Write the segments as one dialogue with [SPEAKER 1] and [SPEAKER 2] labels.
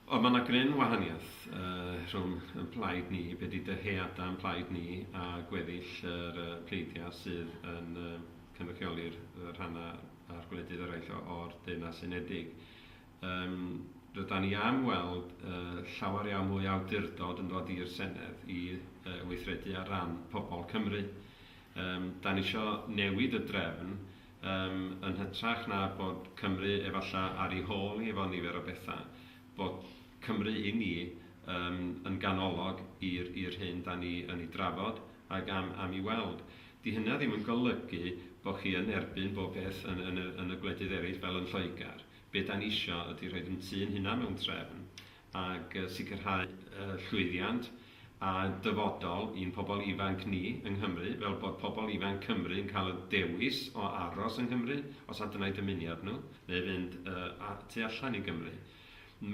[SPEAKER 1] Ond mae yna gryn wahaniaeth uh, rhwng yn plaid ni, be di dyheada yn plaid ni, a gweddill yr uh, pleidiau sydd yn uh, cynrychioli'r uh, rhannau a'r gwledydd eraill o'r Deyrnas Unedig. Um, rydan ni am weld uh, llawer iawn mwy awdurdod yn dod i'r Senedd i uh, weithredu ar ran pobl Cymru. Um, da ni eisiau newid y drefn Yym, yn hytrach na bod Cymru efalla ar ei hôl hi efo nifer o bethau, bod Cymru i ni yym yn ganolog i'r i'r hyn 'dan ni yn ei drafod ac am am ei weld. 'Di hynna ddim yn golygu bo' chi yn erbyn bob peth yn yn y yn y gwledydd eraill fel yn Lloegr. Be' 'dan ni isio ydi rhoid 'yn tŷ'n hunan mewn trefn ac sicrhau llwyddiant a dyfodol i'n pobl ifanc ni yng Nghymru, fel bod pobl ifanc Cymru yn cael y dewis o aros yng Nghymru, os adnai dymuniad nhw, neu fynd tu allan i Gymru.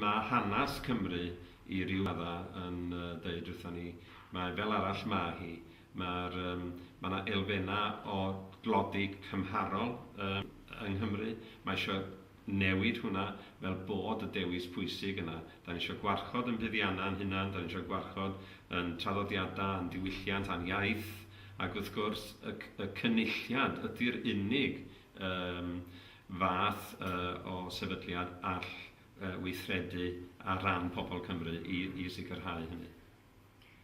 [SPEAKER 1] Mae hanes Cymru i ryw raddau yn dweud wrthon ni mai fel arall mae hi. Mae'r, mae 'na elfennau o dlodi cymharol yng Nghymru, mae eisiau newid hwnna fel bod y dewis pwysig yna. Da ni isio gwarchod ein buddiannau ein hunain, da ni isio gwarchod ein traddodiadau a'n diwylliant a'n iaith, ac wrth gwrs, y y Cynulliad ydy'r unig yym fath yy o sefydliad all yy weithredu ar ran pobl Cymru i i sicrhau hynny.